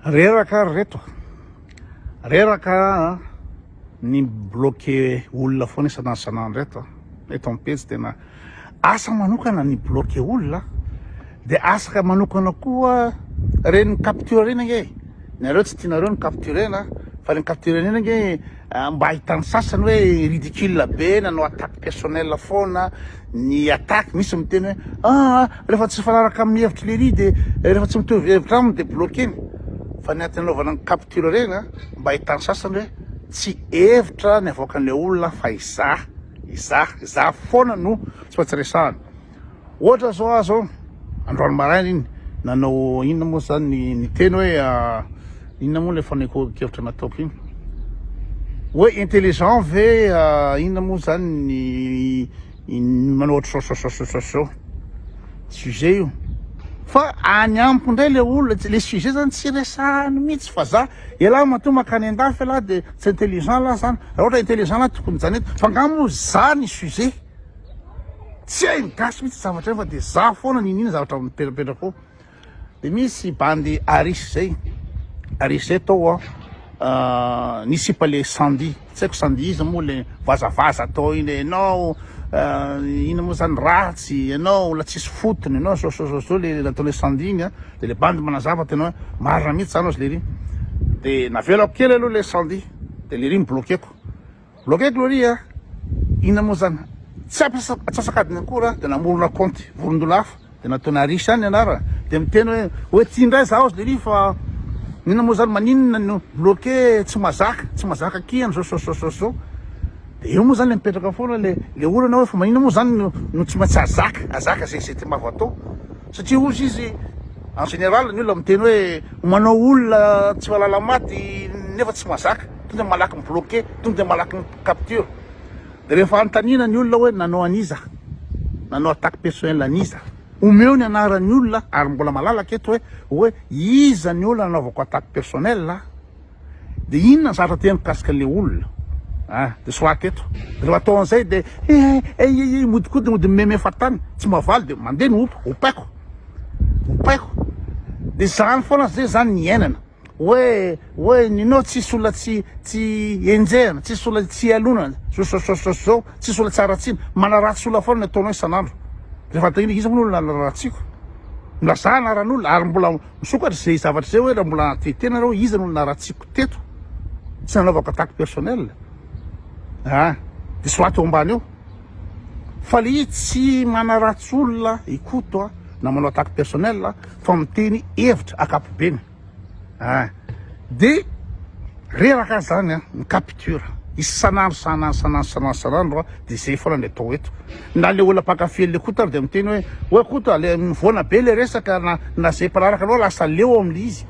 Reraka ry reto a! Reraka ny mi-bloqué olona foana isan'andro isan'andro eto a! Eto amin'ny pejy tena asa manokana ny mi-bloqué olona dia asa manokana koa ireny mi-capture ireny ange e! Ny anareo tsy tianareo ny mi-capture-na fa ny mi-capture ireny ange. Mba ahitan'ny sasany hoe ridicule be na no attaque personnelle foana ny attaque, misy miteny hoe aa rehefa tsy mifanaraka amin'ny hevitry lery de rehefa tsy mitovy hevitra aminy de bloquer-ny fa ny antony anaovana ny capture ireny a mba ahitan'ny sasany hoe tsy hevitra ny avoakan'ilay olona fa izaho izaho izaho foana no tsy maintsy resahana. Ohatra zao aho zao androany maraina iny nanao inona moa zany ny niteny hoe inona moa ilay fanehoan-kevitra nataoko iny hoe intelligent ve inona moa zany ny ny manao ohatr' zao zao zao zao zao sujet io fa any amiko indray le olona tsy le sujet zany tsy resahany mihitsy fa za elah matoa makany an-dafy elah de tsy intelligent lah zany raha ohatra intelligent lah tokony zany eto fa nga moa za ny sujet Tsy hain'ny gasy mihitsy zavatra fa dia za foana niniana zavatra mipetrapetraka ao. Dia misy bandy aris zay. Aris zay tao a ah, nisipa le sandy. Tsy haiko sandy iza moa le vazavaza atao iny ianao ah, ina moa zany ratsy ianao la tsisy fotony ianao zao zao zao zao le nataon'le sandy iny a. Dia le bandy manazava tena hoe marina mihitsy zany ozy lery. Dia navelako kely aloha le sandy dia lery mi-bloquer-ko. Bloquer Gloria a! Inona moa zany? Tsy atsasak'adiny akory a! Dia namorona kaonty vorondola hafa dia nataony Aris ihany ny anarany dia miteny hoe hoe ty indray zaho zlery fa inona moa zany? Maninona no bloquer tsy mazaka tsy mazaka akia an'zao sososososoo! Dia eo moa zany le mipetraka foana le le olana hoe fa maninona moa zany no no tsy maintsy azaka azaka ze ze timbava atao satria ozy izy en général ny olona miteny hoe manao olona tsy mahalala maty nefa tsy mazaka. tonga malaky mi-bloquer, tonga malaky mi-capture. Dia rehefa anontaniana ny olona hoe nanao an'iza, nanao attaque personnelle an'iza, omeo ny anaran'ny olona, ary mbola malalaka eto hoe, hoe iza ny olona nanaovako attaque personnelle, dia inona ny zavatra teny mikasika an'ilay olona? a, dia soraty eto. Dia rehefa atao an'izay dia he he he he he, mihodinkodina mody mimeme faritany, tsy mahavaly dia mandeha ny hopa, hopaiko, hopaiko. Dia izany foana, izay izany ny iainana. Oe oe Nino tsisy olona tsy tsy enjehana, tsisy olona tsy ialonana, sososososo zao, tsisy olona tsy haratsiana, manaratsy olona foana ny ataonao isan'andro, rehefa atao inona, iza moa no olona nararatsiako? Milazà anaran'olona ary mbola misokatra izay zavatra izay hoe raha mbola hanatreha tena nareo iza no olona naratsiako teto? Tsy nanaovako attaque personnelle, ah, diso ahy teo ambany eo. Faly tsy manaratsy olona i Koto a, na manao attaque personnelle a, fa miteny hevitra akapobeny a. De reraka aza zany ny capture isan'andro isan'andro isan'andro isan'andro isan'andro a, de zay foana ny atao eto. Na le olona mpankafy an'le Koto ary de miteny hoe, oa Koto a, le mivoana be le resaka na na zay mpanaraka anao lasa leo am'le izy.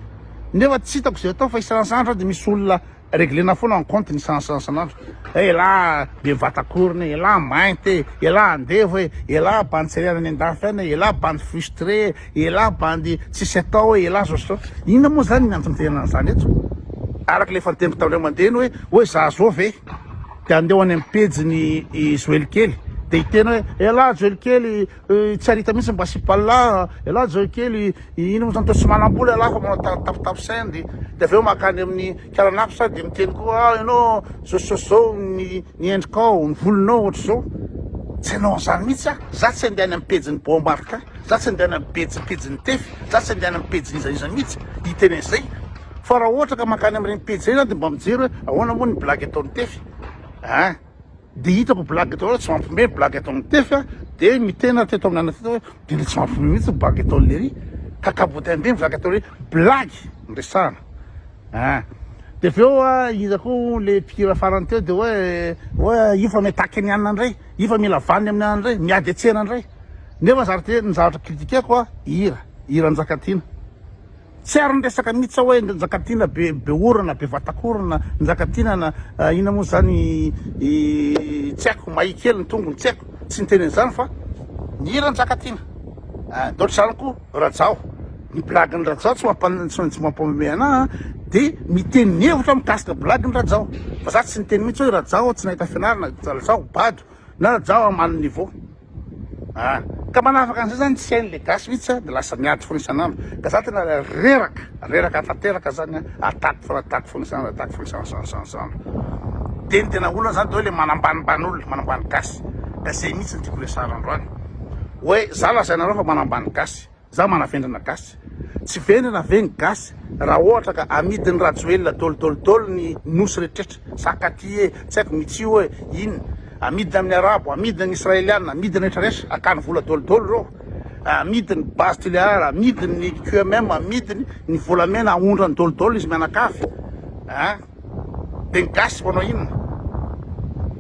Nefa tsy hitako zay atao fa isan'andro isan'andro zany de misy olona. Reglena foana ny compte ny sansansanandro eh, elah be vatankorona eh, elah mainty eh, elah andevo eh, elah bandy tsy ariana any andafy any eh, elah bandy frustré eh, elah bandy tsisy atao eh, elah zao zao. Inona moa zany ny antony fitenenana an'izany eto? Araka ilay efa niteniko tamin'ireo mandeha ny hoe hoe za zao ve? Dia andeho any amin'ny pejin'i Joely kely dia hiteny hoe elah Joely kely Tsy arita mihitsy mba sipallah ialahy zao kely ino moa zany toa tsy manambola ialahy fa manao tap tap send de avy eo makany amin'ny kalanako sady de miteny koa ah ianao zao zao zao ny ny endrikao ny volonao ohatr'izao tsy hanao an'izany mihitsy ah za tsy handeha any amin'ny pejin'ny boa marka za tsy handeha any amin'ny pejy pejin'ny tefy za tsy handeha any amin'ny pejin'iza iza mihitsy hiteny an'izay fa raha ohatra ka makany amin'ireny pejy ireny aho de mba mijery hoe ahoana moa ny blague ataon'ny tefy ah Dia hitako blague daholo tsy mampme ny blague ataon'i Tefy a, dia miteny aho teto amin'ny anona teto hoe dia ilay tsy mampme mihitsy ny blague ataon'i Lery, ka cabotin be ny blague ataon'i Lery, blague no resahana ah. Dia avy eo iza koa hono ilay mpihira farany teo dia hoe hoe io fa mi-attaque ny anona indray, io fa mila vaniny amin'ny anona indray, miady an-tsena indray, nefa zary dia ny zavatra critiquer-ko a, hira, hira Njakatiana. Tsy ary niresaka mihitsy aho hoe Njakatiana be be orona, be vatak'orona, Njakatiana na inona moa izany tsy haiko, mahia kely ny tongony, tsy haiko, tsy niteny an'izany fa ny hira Njakatiana. Dia ohatr'izany koa Rajao, ny blagy ny Rajao tsy mampamemehy anah an, dia miteny ny hevitro aho mikasika blagy ny Rajao fa za tsy niteny mihitsy hoe Rajao tsy nahita fianarana, Rajao bado na Rajao ambany niveau. Ah ka manafaka an'izay zany tsy hain'le gasy mihitsy an, de lasa miady foana isan'andro, ka za tena reraka, reraka tanteraka zany an, attaque foana, attaque foana isan'andro, attaque foana isan'andro, de ny tena olana zany de hoe le manambanimbany olona, manambany gasy, ka zay mihitsy no tiako resahana androany, hoe za lazainareo fa manambany gasy, Za manavendrana gasy. Tsy vendrana ve ny gasy raha ohatra ka amidiny rajoelina dol dol dol ny nosy retrretra sa katy e tsy aiko mitsy oe inona amidiny aminy arabo amidiny ny israeliana amidiny rehetra rehetra akany vola dol dol reo amidiny base tulear amidiny ny QMM amidiny ny volamena aondrany dol dol izy mianakavy a de ny gasy manao inona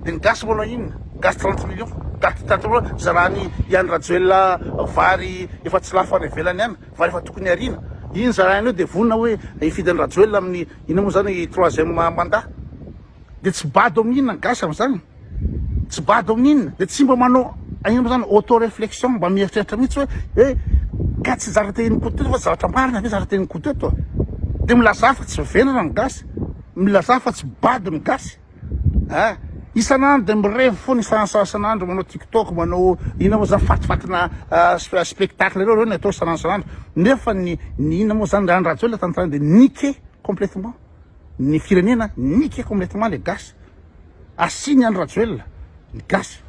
de ny gasy manao inona ny gasy trente millions daty daty loha zarany i Andry Rajoelina vary efa tsy lafo any ivelany any vary efa tokony ariana iny zarany io de vonona hoe hifidy Andry Rajoelina amin'ny inona moa zany troisième mandat de tsy bado amin'ny inona ny gasy amin'izany tsy bado amin'inona dia tsy mba manao inona moa izany auto réflexion mba mieritreritra mihitsy hoe hoe ka tsy zara tenin'i Koto eto fa tsy zavatra marina ve zara tenin'i Koto eto dia milazà fa tsy vendrana ny gasy milazà fa tsy bado ny gasy a ah, isan'andro dia mirevy foana isan'andro isan'andro manao tiktok manao inona moa izany fatifatina ah, spe- spectacle ireo ireo ny atao isan'andro isan'andro nefa ny ny inona moa izany ny rany rajoelina tany tany dia niqué complètement ny firenena niky complètement le gasy asiny any rajoelina ny gasy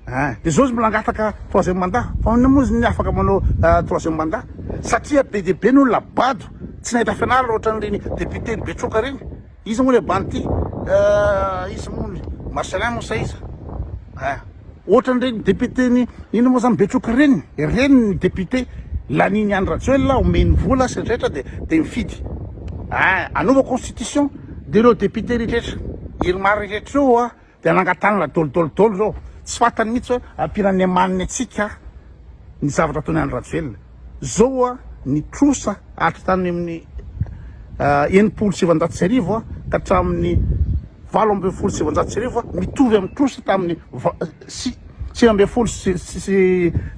ah de zao izy mbola angataka troisième mandat fa ahoana moa izy ny afaka manao ah, troisième mandat satria be de be ny olona bado tsy nahita fianarana ohatran'ireny député ny betroka reny izy moa le banty ah, izy moa ny marcelin moa saiza ah. Ohatran'ireny député-n'i inona moa zany Betroka ireny, ireny ny député lanin'i Andry Rajoelina, omeny vola sy ny rehetra dia dia mifidy. Ah, anova constitution dia ireo député rehetra, Irmar rehetra ireo ah, dia nangatanana dol dol dol ireo, tsy fantany mihitsy hoe ampiana ny emaniny antsika ny zavatra ataon'i Andry Rajoelina. Zao oa ny trosa atra tany amin'ny enimpolo sy sivanjato sy arivo ka hatramin'ny valo ambin'ny folo sy sivanjato sy arivo mitovy amin'ny trosa tamin'ny sivy ambin'ny folo sy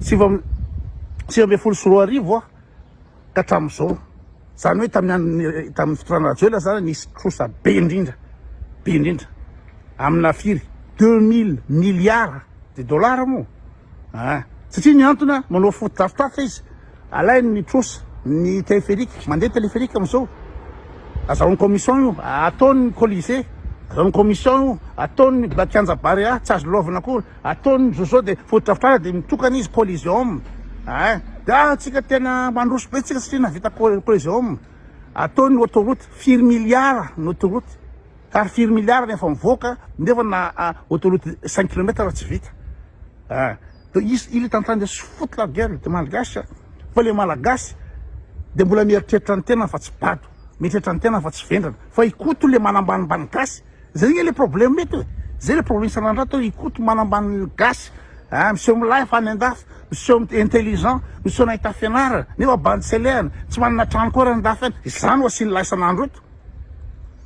sivy ambin'ny folo sy roa arivo ka hatramin'izao. Izany hoe tamin'ny andron'ny tamin'ny fitondrana Rajoelina izany nisy trosa be indrindra be indrindra amina firy deux mille milliards de dollars moa. Ah! Satria miantona manao foto-drafitr'afitra izy, alainy ny trosa, ny téléphérique, mandeha téléphérique amin'izao, azahoany commission io, ataony colisée, azahoany commission io, ataony kianja barea, tsy azo lalaovina akory, ataony zozo dia foto-drafitr'ala dia mitokana izy coliseum, ah! Dia ah! Tsika tena mandroso be tsika satria nahavita coliseum, ataony autoroute, firy milliards ny autoroute. Ary firy milliards no efa mivoaka nefa na autoroute cinq kilomètres tsy vita ah donc izy il est en train de se foutre la gueule de malgache ah fa le malagasy de mbola mieritreritra ny tenany fa tsy bado mieritreritra ny tenany fa tsy vendrana fa i Koto le manambanimbany gasy zay anie le problème eto e zay le problème isan'andro ato i Koto manambany ny gasy ah miseho milay fa any andafy miseho mi- intelligent miseho nahita fianarana nefa bandy selehana tsy manana trano koa ary any andafy any izany ho asian'ilay isan'andro eto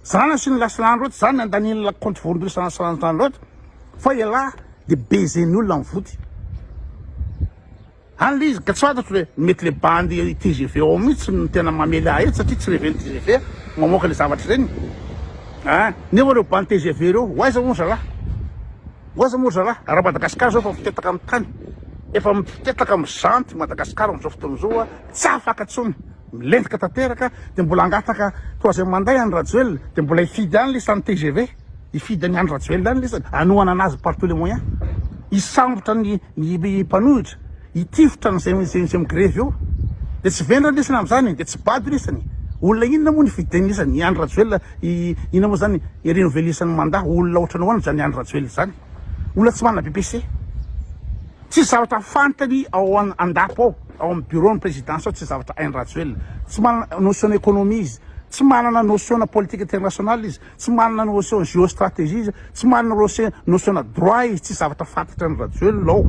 Zany asiany lasilany loatra zany andaniany la compte voandosana lasilany zany loatra fa elah de baiser-ny olona ny voty any le izy ka tsy fantatro le mety le bandy tgv ao mihitsy no tena mamely ahy eto satria tsy reven'ny tgv mamoaka le zavatra ireny a nefa reo bandy tgv reo ho aiza moa ry zalahy ho aiza moa ry zalahy raha Madagascar zao efa mitetaka amin'ny tany efa mitetaka mijanty Madagascar amin'izao fotoana izao a tsy afaka intsony milentika tanteraka dia mbola hangataka troisième mandat any Rajoelina dia mbola hifidy any lesy any tgv hifidy any any Rajoelina any lesy hanohana anazy par tous les moyens hisambotra ny ny mpanohitra hitifitra an'izay izay migrevy eo dia tsy vendrana lesy amin'izany dia tsy bado lesy ny olona inona moa ny fidiny lesy ny any Rajoelina inona moa izany irenovelisany mandat olona ohatran'ny ahoana izany any Rajoelina izany olona tsy manana BPC Tsisy zavatra fantany ao an-dapo ao, ao amin'ny bureau-n'ny présidence ao, tsy zavatra hainy Rajoelina. Tsy manana notion na économie izy, tsy manana notion na politique internationale izy, tsy manana notion na géostratégie izy, tsy manana notion notion na droit izy, tsisy zavatra fantatra an'i Rajoelina ao.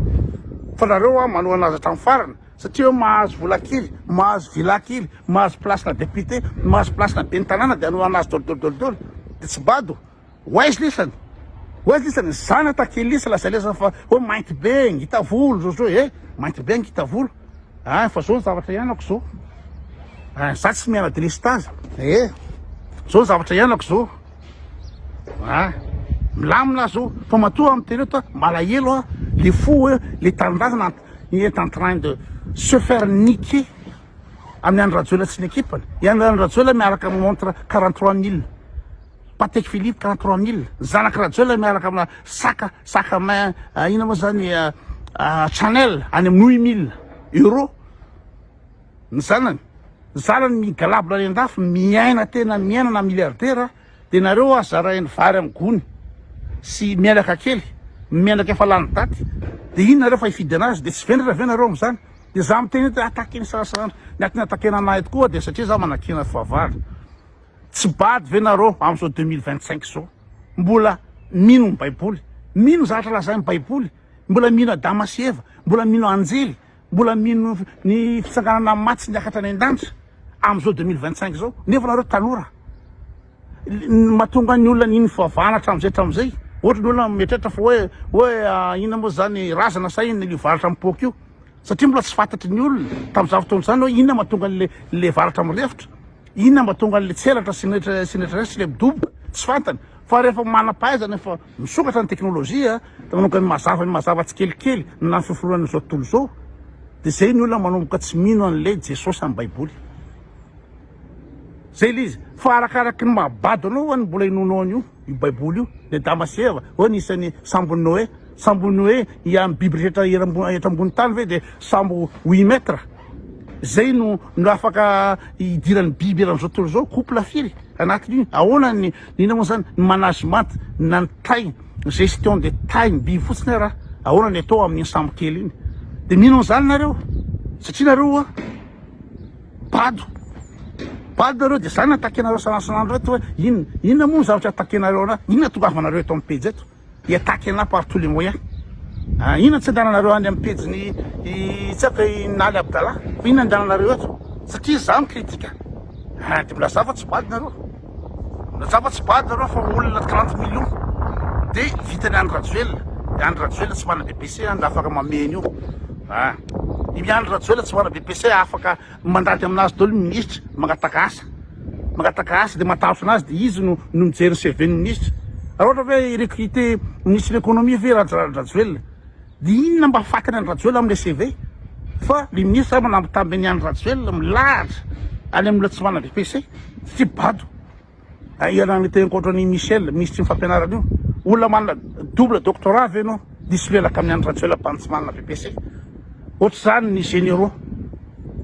Fa nareo an, manohana azy hatramin'ny farany satria hoe mahazo vola kely, mahazo villa kely, mahazo place-na député, mahazo place-na ben'ny tanàna dia hanohana azy dôly dôly dôly dôly. Dia tsy bado. Ho aiza lisany? Ho aiza lisany? Zana takia lisa lazay lesa fa hoe mainty be ngita volo zao zao eh mainty be ngita volo ah fa zao ny zavatra ianako zao ah za tsy miana delestaza eh zao ny zavatra ianako zao ah milamina zao fa matoa amin'ny tele ta malahelo ah le fo hoe le tanindrazana il est en train de se faire niquer amin'ny andry rajoela tsy ny ekipany i andry rajoela miaraka amin'ny montre 43 mille Patek Philippe 43000 zanak'i Rajoelina miaraka amina sac sac à main ina moa zany Chanel any amin'ny 8000 euros ny zanany zanany migalabona any an-dafy miaina tena miaina na milliardaire dia nareo aza zarainy vary amin'ny gony sy menaka kely menaka efa lany daty dia iny nareo fa hifidy anazy dia tsy vendrana ve nareo amin'izany dia za miteny hoe atakeny sarasarandra ny atina atakena anahy tokoa dia satria za manakena fahavalo Tsy bado ve nareo amzao deux mille vingt cinq zao mbola mino ny baiboly, mino zavatra lazain'ny baiboly, mbola mino adama sy eva, mbola mino anjely, mbola mino ny fitsanganana ny maty sy niakatra any an-danitra amzao deux mille vingt cinq zao nefa nareo tanora matonga ny olona nino fivavahana atramzay atramzay ohatry ny olona mieritreritra fa hoe hoe inona moa zany razana sa inona io varotra am-poaka io Satria mbola tsy fantatry ny olona tamin'izany fotoana izany hoe inona mahatonga an'ilay varatra mirefotra, inona mahatonga an'ilay tselatra sy netra sy ilay midoboka, tsy fantany. Fa rehefa manam-pahaizana efa misokatra ny teknolojia, manomboka ny mazava ny mazava tsikelikely na ny fiforonan' izao tontolo izao, dia izay ny olona manomboka tsy mino an'ilay Jesosy amin'ny Baiboly. Zay le izy fa arakaraky ny maha bado anao ho'a ny mbola inoanao an'io io baiboly io ny adama sy eva ho'a ny isan'ny sambon'i noe sambon'i noe hiany ny biby rehetra eram- eto ambony tany ve de sambo huit mètres zay no no afaka hidiran'ny biby eran'izao tontolo izao couple firy anatin'io ahoana ny nina moa zany ny management na ny taille gestion de taille ny biby fotsiny raha ahoana ny atao amin'ny sambo kely iny de mino an'izany nareo satria nareo a Bado. Bado nareo de zany attaque nareo san'andro eto hoe inona? Inona moa ny zavatra attaque nareo ana? Inona tongavanareo eto amin'ny pejy eto? I attaque ana par tous les moyens. Ah, inona tsy andehananareo any amin'ny pejin'i i tsaka i Naly Abdallah? Inona andehananareo eto? Satria za mi-critique. Ah, de milazà fa tsy bado nareo. Natsapa tsy bado nareo fa olona trente millions de vita ny Andry Rajoelina, i Andry Rajoelina tsy mana BPC an de afaka mamehy an'io an, i Andry Rajoelina tsy mana BPC afaka mandady amin'azy daholo ny minisitra mangataka asa, mangataka asa de matahotra an'azy de izy no no mijery ny CV ny minisitra, raha ohatra hoe hi-recruter ministre de l'economie ve Raj- Rajoelina. Dia inona mba fatiny an'i Rajoel amin'ilay CV? Fa le ministre angamba nampitambiny an'i Rajoel milahatra any amin'ny olona tsy manana BEPC satria bado ianarana teny ankoatra an'i Michel minisitry ny fampianarana io. Olona manana double doctorat ve ianao diso miaraka amin'ny an'i Rajoel bado tsy manana BEPC? Ohatr'izany ny généraux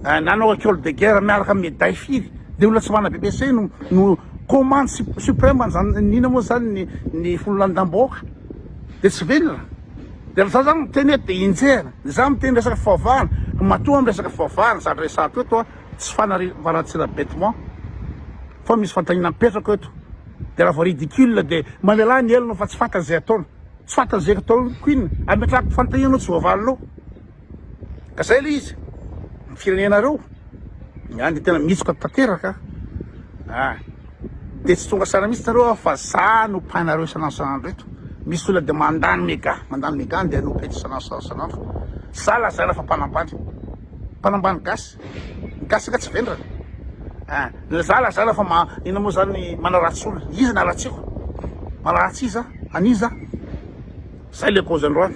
eh, nanao école de guerre miaraka amin'ny médaille firy dia olona tsy manana BEPC no, no commande sup- suprême an'izany inona moa izany ny, ny fololandam-bahoaka dia tsy venona. Dia rehefa za zany miteny hoe dia enjehina, dia za miteny resaka fivavahana, matoa amin'ny resaka fivavahana zany resahako eto a, tsy fanariam-baratsina bêtement, fa misy fanontaniana mipetraka eto, dia raha vao ridicule dia mamelà ny helony fa tsy fantany izay ataony, tsy fantany izay ataony ko inona, ametrahako fanontaniana anao tsy voavalinao. Ka zay le izy, ny firenenareo, ny any tena mitsoka tanteraka an, de tsy tonga saina mihitsy nareo fa za no painareo isan'andro isan'andro eto, misy olona de mandany mega, mandany mega de anompo eto isan'andro isan'andro, za lazaina fa mpanambany, mpanambany gasy, ny gasy nga tsy vendrana an, za lazaina fa ma- inona moa zany manaratsy olona, iza no haratsiako, manaratsy iza, an'iza, zay le cause androany.